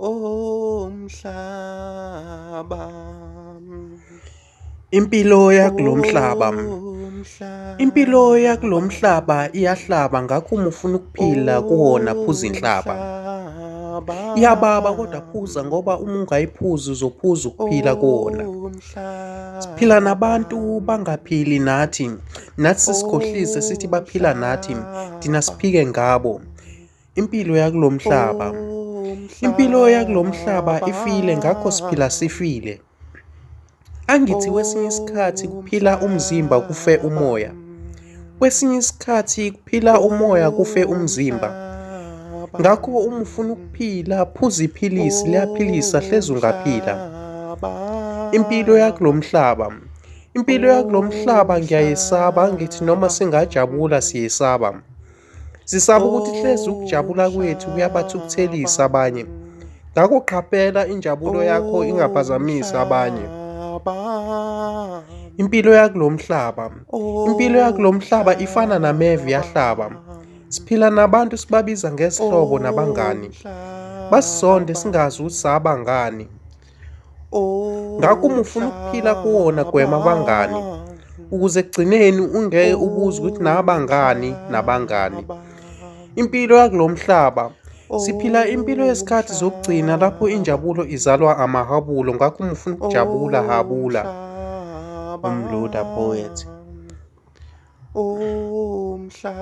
Oh mhlaba Impilo yakulomhlaba Impilo yakulomhlaba iyahlaba ngakho uma ufuna ukuphila kuwona phuza inhlaba Iyababa kodwa phuza ngoba uma ungayiphuzi uzophuza ukuphila kuwona Siphila nabantu bangaphili nathi nathi sikhohlise sithi baphila nathi thina siphike ngabo impilo yakulo mhlaba impilo yakulo mhlaba ifile ngakho siphila sifile angithi kwesinye isikhathi kuphila umzimba kufe umoya kwesinye isikhathi kuphila umoya kufe umzimba ngakho uma ufuna ukuphila phuza iphilisi liyaphilisa hlezi ungaphila impilo yakulo mhlaba impilo yakulo mhlaba ngiyayesaba ngithi noma singajabula siyesaba Sisaba ukuthi hlezi ukujabula kwethu kuyabathukuthelisa abanye. Ngakho qaphela injabulo yakho ingaphazamisi abanye. Impilo yakulomhlaba. Impilo yakulomhlaba ifana nameve yahlaba. Siphila nabantu sibabiza ngesihlobo nabangani. Basisonde singazi ukuthi saba ngani. ngakho uma ufuna ukuphila kuwona gwema abangani ukuze ekugcineni ungeke ubuze ukuthi nabangani nabangani impilo yakulo mhlaba siphila impilo yesikhathi zokugcina lapho injabulo izalwa amahabulo ngakho uma ufuna ukujabula habula umloda poet umhlaba